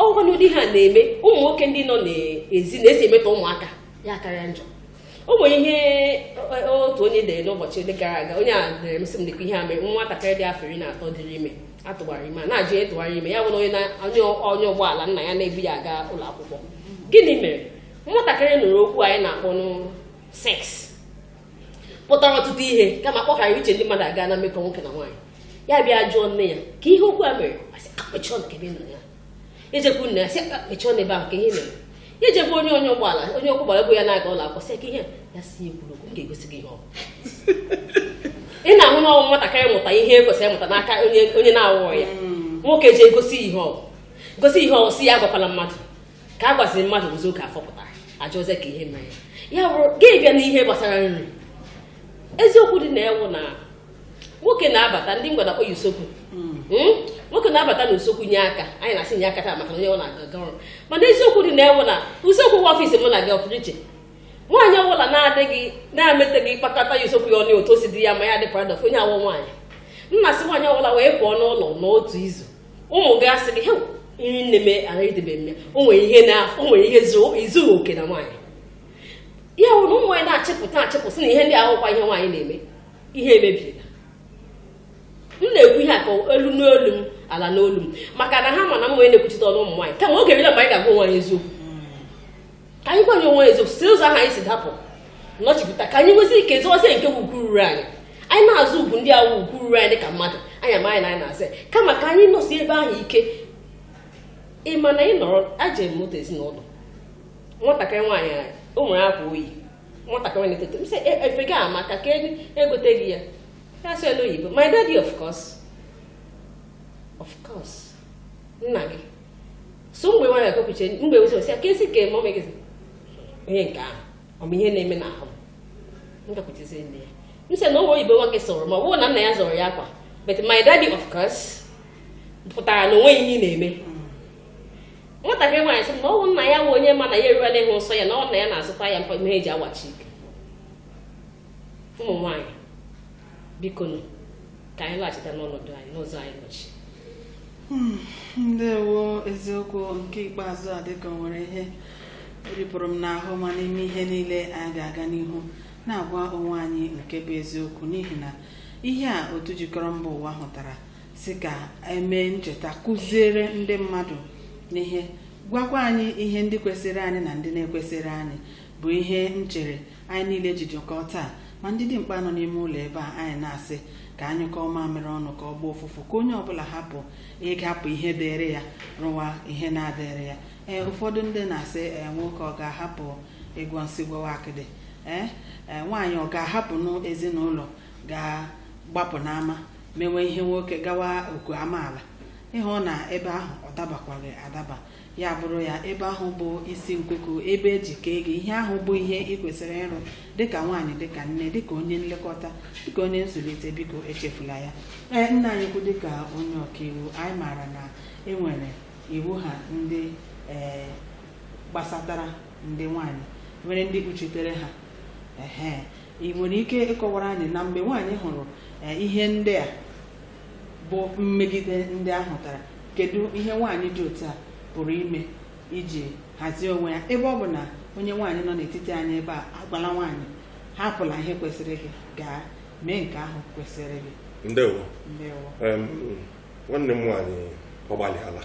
ọgwa n'ụdị ha na-eme ụmụ nwoke ndị nọ n'ezi na-esi emetọ ụmụaka ya akarịa njọ o nwere ihe otu onye dere n'ụbọchị ole gara aga onye a dere m sị m dịkwa ihe a mere nwatakịrị dị afọ iri na atọ dịrị ime a tụwara ime a na-ajụ onye tụwara ya ime ya bụrụ onye na- onye onye ụgbọala nna ya na-ebu ya aga ụlọ akwụkwọ gịnị mere nwatakịrị nụrụ okwu anyị na-akpọnụ sex pụtara ọtụtụ ihe kama kpọghara uche ndị mmadụ aga na mmekọ nwoke na nwaanyị ya bịa jụọ nne ya kee ihe okwu a mere ọ sị, "Ka kpọchie ọnụ kee ebe ị nụrụ ya ejekwu nna ya sị ka mechie ọnụ ebe ahụ ka ihe mere ya ejekwu onye onye ụgbọala onye ọkwọ ụgbọala bu ya na-aga ụlọ akwụkwọ sị ka ihe ya si ekwuru okwu m ga-egosi gị ihe ọ bụ." ị na-ahụ na ọ wụ nwatakịrị mụta ihe e kwesịrị ịmụta n'aka onye onye na-awụghị ya nwoke ji egosi ihe ọ bụ. gosi ihe ọ si ya agwakwala mmadụ ka a gwaziri mmadụ ụzọ oge afọpụta ajọ ọzọ ka ihe mere ya bụrụ gị bịa n'ihe gbasara nri eziokwu dị na ya wụ na nwoke na-abata ndị ngwa na-akpọ ya usekwu hmm. Hmm? nwoke na-abata na usekwu nye aka anyị na-asị nye aka taa maka onye ọ na-aga ọrụ mana eziokwu dị na ya wụ na usekwu wụ ọfịs mụ na gị ọ pụrụ iche nwaanyị ọbụla na-adịghị na-emeteghị kpakọta ya usekwu ya ọnụ otu o si dị ya ma ya dị proud of onye awụ nwaanyị m na-asị nwaanyị ọbụla wee pụọ n'ụlọ n'otu izu ụmụ gị asị gị he nri nne m ara idebe mme o nwere ihe na o nwere ihe izughị oke na nwaanyị ya wụ na ụmụ nwaanyị na-achịpụta achịpụsị na ihe ndị a wụkwa ihe nwaanyị na-eme ihe emebiela m na-ekwu ihe a ka elu n'olu m ala n'olu m maka na ha ma na m wụ onye na-ekwuchite ọnụ ụmụ nwaanyị kama oge eruola mgbe anyị ga-agwa onwe anyị eziokwu ka anyị gwanye onwe eziokwu si ụzọ ahụ anyị si dapụ nọchipụta ka anyị nwezi ike zọwazie nke ugwu ruru anyị anyị na-azọ ugwu ndị awụ ugwu ruru anyị dịka mmadụ anyị ama anyị na anyị na-asị kama ka anyị nọsie ebe ahụ ike ị ma na ị nọrọ aje m otu ezinụlọ nwatakịrị nwaanyị o nwere akwa o yi nwatakịrị na-eto eto m sị "E- efe gị amaka ka ego- egote gị ya ya sị n'olu oyibo my daddy of course of course nna gị so mgbe nwa ya kopuche mgbe ụzọ sị ya ka esi ka mọmị gị sị, onye nke ahụ ọ bụ ihe na-eme n'ahụ m gakwuchezi nne ya m sị na ọ wụ oyibo nwa gị sụrụ ma ọ bụrụ na nna ya zụrụ ya akwa but my daddy of course pụtara na onweghị ihe ị na-eme nwatakịrị nwaanyị sị na ọ wụ nna ya wụ onye ma na ya eruela ịhụ nsọ ya na ọ wụ nna ya na-azụta ya mpe ihe eji awachi ike ụmụ nwaanyị biko ka anyị laghachita n'ọnọdụ anyị n'ụzọ anyị nọchi hmm, ndewo eziokwu nke ikpeazụ a dịka o nwere ihe ripụrụ m n'ahụ ma n'ime ihe niile anyị ga-aga n'ihu na-agwa onwe anyị nke bụ eziokwu n'ihi na ihe a otu jikọrọ mba ụwa hụtara sị ka e mee ncheta kụziere ndị mmadụ ihe gwakwa anyị ihe ndị kwesịrị anyị na ndị na-ekwesịrị anyị bụ ihe m chere anyị niile ji jikọọ taa ma ndị dimkpa nọ n'ime ụlọ ebe a anyị na-asị ka a nyụkọọ mamịrị ọnụ ka ọ gbaa ụfụfụ ka onye ọbụla hapụ ịhapụ ihe dịrị ya rụwa ihe na-adịrị ya ee ụfọdụ ndị na-asị ee nwoke ọ ga-ahapụ ịgwọ nsi gwawa akịdị ee ee nwaanyị ọ ga-ahapụnụ ezinụlọ gaa gbapụ n'ama mewe ihe nwoke gawa oku amaala ị hụ na ebe ahụ ọ dabakwaghị adaba ya bụrụ ya ebe ahụ bụ isi nkuku ebe eji kee gị ihe ahụ bụ ihe ị kwesịrị ịrụ dịka nwaanyị dịka nne dịka onye nlekọta dịka onye nzụlite biko echefula ya ee nna anyị ukwu dịka onye ọkaiwu anyị maara na enwere iwu ha ndị ee gbasatara ndị nwaanyị nwere ndị kpuchitere ha ehe ị nwere ike ịkọwara anyị na mgbe nwaanyị hụrụ eh, ihe ndị a bụ mmegide ndị a hụtara kedu ihe nwaanyị dị otu a pụrụ ime iji hazie onwe ya ebe ọ bụ na onye nwaanyị nọ n'etiti anyị ebe a agwala nwaanyị hapụla ihe kwesịrị gị gaa mee nke ahụ kwesịrị gị ndewo ndewo Em, nwanne m nwaanyị ọ gbalịala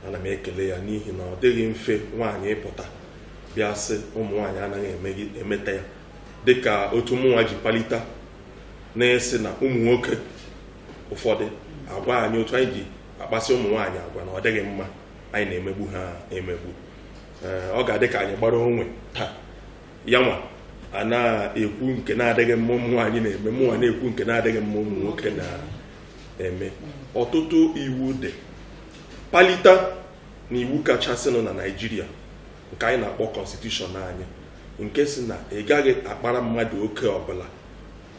ana m ekele ya n'ihi na ọ dịghị mfe nwaanyị ịpụta bịa sị ụmụ nwaanyị anaghị emeta ya dịka otu mụnwa ji palite na-esi na ụmụ nwoke ụfọdụ agwa anyị otu anyị ji akpasị ụmụ nwaanyị agwa na ọ dịghị mma anyị na-emegbu ha emegbu ọ ga-adị ka anyị gbara onwe taa yanwa ana-ekwu nke na-adịghị mma ụmụ nwaanyị na-eme mụnwa na-ekwu nke na-adịghị mma ụmụ nwoke na eme ọtụtụ iwu dị palite na iwu kachasịnụ na Naịjirịa nke anyị na-akpọ constitution anyị nke sị na ị gaghị akpara mmadụ oke ọbụla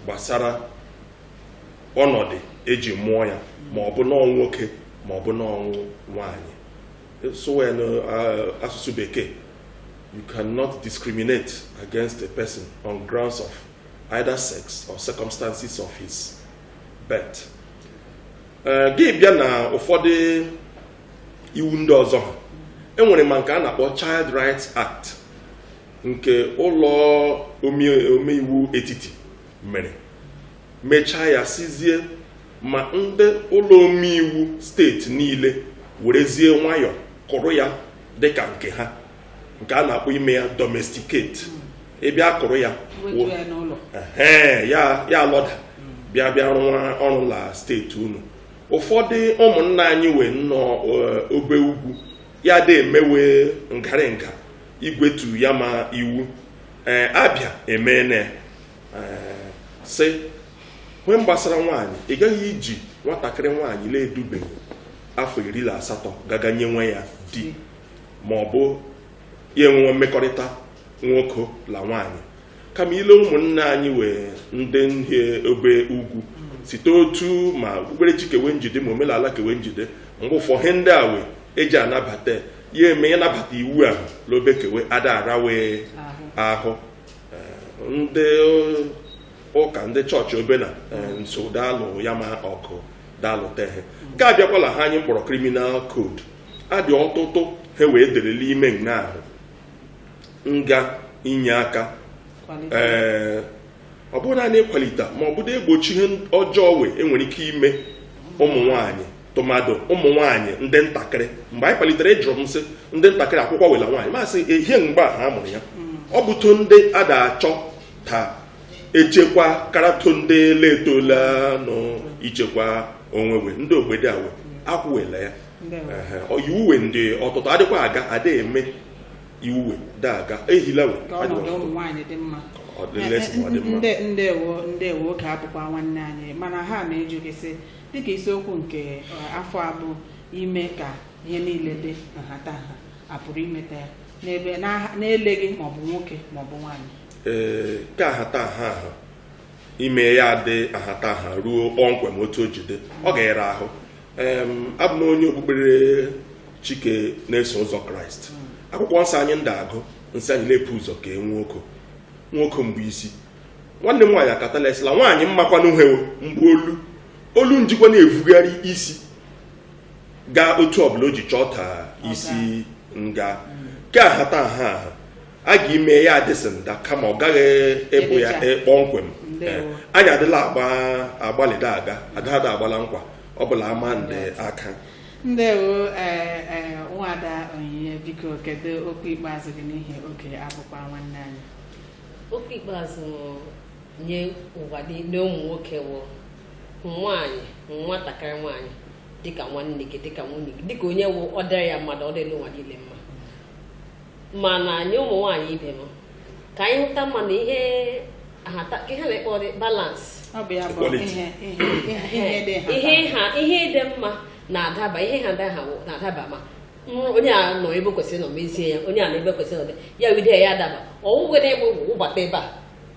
gbasara ọnọdụ eji mụọ ya ma ọ bụ na ọ wụ nwoke ma ọ bụ na ọ wụ nwaanyị sụwa ya n'asụsụ bekee you cannot discriminate against a person on grounds of either sex or circumstances of his birth eh, gị bịa na ụfọdụ iwu ndị ọzọ ha enwere ma nke a na-akpọ Child Rights Act nke ụlọ omeiwu etiti mere mechaa ya sịzie ma ndị ụlọ omeiwu steeti niile werezie nwayọọ kụrụ ya dịka nke ha nke a na-akpọ ime ya domesticate ịbịa hmm. kụrụ ya ya ya alọda hmm. bịa bịa rụwa ọrụ la steeti unu ụfọdụ ụmụnna anyị wee nọ eh, obe ugwu ya dị emewe ngarị nga igwetu ya ma iwu ee eh, Abia emeene eh, sị ihe gbasara nwaanyị ị gaghị iji nwatakịrị nwaanyị na-edubeghị afọ iri na asatọ gaga nyewe ya di ma ọ bụ ya enwewe mmekọrịta nwoke la nwaanyị kama i lee ụmụnne anyị wee ndị ihe obe ugwu site otu ma okpukperechi ke we nji dị ma omenala ke we nji dị mgbe ụfọ ihe ndị a wee eji anabata ya eme ya nabata iwu ahụ l'obe ke we ada ara wee ahụ eh, ndị ụka ndị chọọchị obena eh, nso daalụ ya ma ọkụ daalụ tehe nke a bịakwala he anyị mkpọrọ criminal code adị ọtụtụ he wee dere n'ime nga ahụ nga inye aka ee eh, ọ bụrụ naanị ịkwalite ma ọ bụrụ igbochi ihe ọjọọ wee e nwere ike ime ụmụ nwanyị tụmadị ụmụ nwanyị ndị ntakịrị mgbe anyị kwalitere ị jụrụ m sị ndị ntakịrị akwụkwọ wela nwaanyị masị ehie mgbe a ha mụrụ ya mm. ọ bụtụ ndị a da-achọ ta e chekwa karatụ ndị letola nọ ichekwa onwe we ndị ogbede awe akwụwela ya Ndewo. Ehe, ọ- iwu we ndị ọtụtụ adịkwa aga ada eme iwu we da aga ehila we ka adịwa ọnọdụ ụmụ nwaanyị dị mma ọ dị less ma ọ dị mma. Nde- ndewo ndewo oge abụkwa nwanne anyị mana ihe m na-ajụ gị sị dịka isiokwu nke eh, afọ a bụ ime ka ihe niile dị nhatanha a pụrụ imeta ya n'ebe n'aha- na-eleghị maọbụ nwoke maọbụ nwaanyị ee ke ahataha ahụ ime ya dị ahataha ruo kpọmkwem otu o ji dị ọ ga-ịra ahụ abụ m onye okpukperechi ke na-eso ụzọ Kraịst akwụkwọ nsọ anyị nda agụ nsị anyị na e pu ụzọ kee nwoke nwoke mbụ isi nwanne m nwaanyị akatala e sị la nwaanyị mmakwanụ uhe mbụ olu olu njikwa na-evugharị isi gaa otu ọbụla o ji chọọ ta isi ngaa ke ahataha aha a ga-ime ya adịsị nda kama ọ gaghị ịbụ ya Ebecha. e- kpọmkwem Ndewo. Eh, anyị adịla agba agbalịda aga adịghada agbala nkwa ọ bụla ama ndị aka ndewo ee ee nwada Onyinye biko kedu okwu ikpeazụ gị n'ihi oge abụkwa nwanne anyị okwu ikpeazụ nye ụwa niile ụmụ nwoke hụ nwaanyị nwatakịrị nwaanyị dịka nwanne gị dịka nwunye gị dịka onye wụ ọ dịrị ya mma ọ dịrị ụwa niile mma mana nye ụmụ nwaanyị ibe m ka anyị hụta mma na ihe ihe a na-akpọ balance ihe dị mma na-adaba ihe ha na-adaba ma onye a nọ ebe kwesịrị nọ mezie ya onye a nọ ebe kwesịrị nọ ya wide ya adaba ọwụwe na egbe wụbata ebe a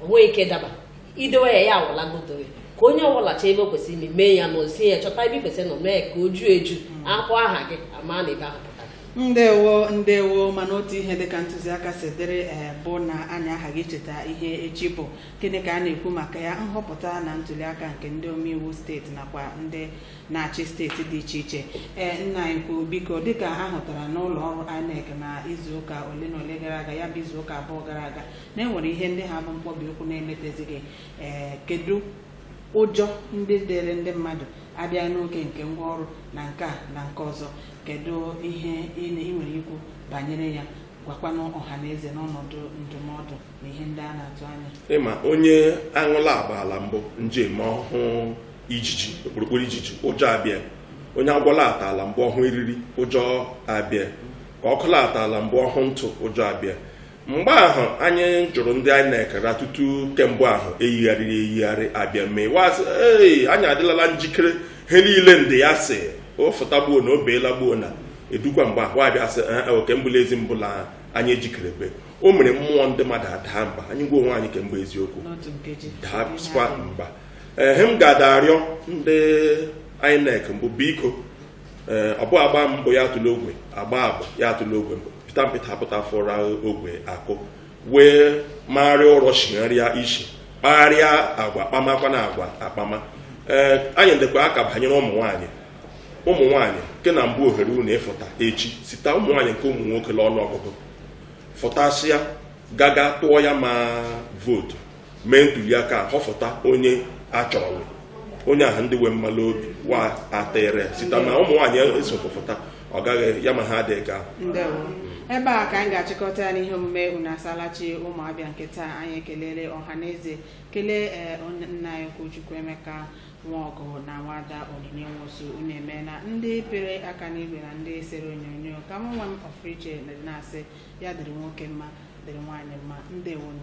o nwe ike daba idowe ya ya awụla godowe ka onye ọwụla chọọ ebe kwesịrị ime mee ya nọzie ya chọta ebe kwesịrị nọ mee ka o juo eju mm. akpọ aha gị a ma na ebe ahụ pụtara ndewo ndewo mana otu ihe dịka ntụziaka si dịrị eh, bụ na anyị aghaghị icheta ihe echi bụ gịnị ka a na-ekwu maka ya nhọpụta na ntuliaka nke ndị omeiwu steeti nakwa ndị na-achị steeti dị iche iche ee eh, nna anyị kwuo biko dịka a hụtara n'ụlọ ọrụ INEC na izuụka ole na ole gara aga ya bụ izuụka abụọ gara aga na enwere ihe ndị ha bụ mkpọbi ụkwụ na-emetezighị ee eh, kedu ụjọ ndị dịrị ndị mmadụ abịa n'oge nke ngwa ọrụ na nke a na nke ọzọ kedu ihe ị na- ị nwere ikwu banyere ya gwakwanụ ọha na eze n'ọnọdụ ndụmọdụ na ihe ndị a na-atụ anya ị ma onye aṅụla agbala mbụ nje ma ọ hụ ijiji okpurukpuru ijiji ụjọ abịa onye agwọla atala mbụ ọ hụ eriri ụjọ abịa ka ọkụla atala mbụ ọ hụ ntụ ụjọ abịa mgbe ahụ anyị jụrụ ndị INEC na tutu ke mbụ ahụ e yigharịrị eyigharị a bịa mee wa sị ee anyị adịlala njikere ihe niile ndị ya si ofụta gbuo na o beela gbuo na edukwa mgbe ahụ a bịa sị "Eh, eh, ke mbụ la ezi mbụ la anyị ejikerebe o mere mmụọ ndị mmadụ adaa mba anyị gwa onwe anyị ke mbụ eziokwu n'otu nkeji dapụsịkwa mba ihe m ga-ada arịọ ndị INEC mbụ biko ee ọ bụghị a gbaa mbụ ya atụ la ogwe a gbaa abụọ ya atụ la ogwe mbụ pịta mpịta apụta fụra ogwe akụ wee magharịa ụrọ chigharịa isi kpagharịa agwa kpamakwa na agwa akpama ee anyị ndekwa aka banyere ụmụ nwaanyị ụmụ nwaanyị nke na mbụ ohere unu ịfụta echi site ụmụ nwaanyị nke ụmụ nwoke n'ọnụ ọgụgụ fụtasịa gaga tụọ ya ma vootu mee ntuliaka a họfụta onye a chọrọ onye ahụ ndị wee mmalụ obi wa atịrị site na ụmụ nwaanyị esofụfụta ọ gaghị ya ma ha adịghị ga ndewo ebe a ka anyị ga-achịkọta ya n'ihe omume unu asaala chi ụmụ abịa nke taa anyị ekelele ọha na eze kelee ee, onye- nna anyị ukwu chukwuemeka nwaọgụ na nwada onyinye nwosu unu emeela ndị pere aka n'igwe na ndị sere onyonyo ka m nwa m ọfụrụ iche na-asị ya dịrị nwoke mma dịrị nwaanyị mma ndewonu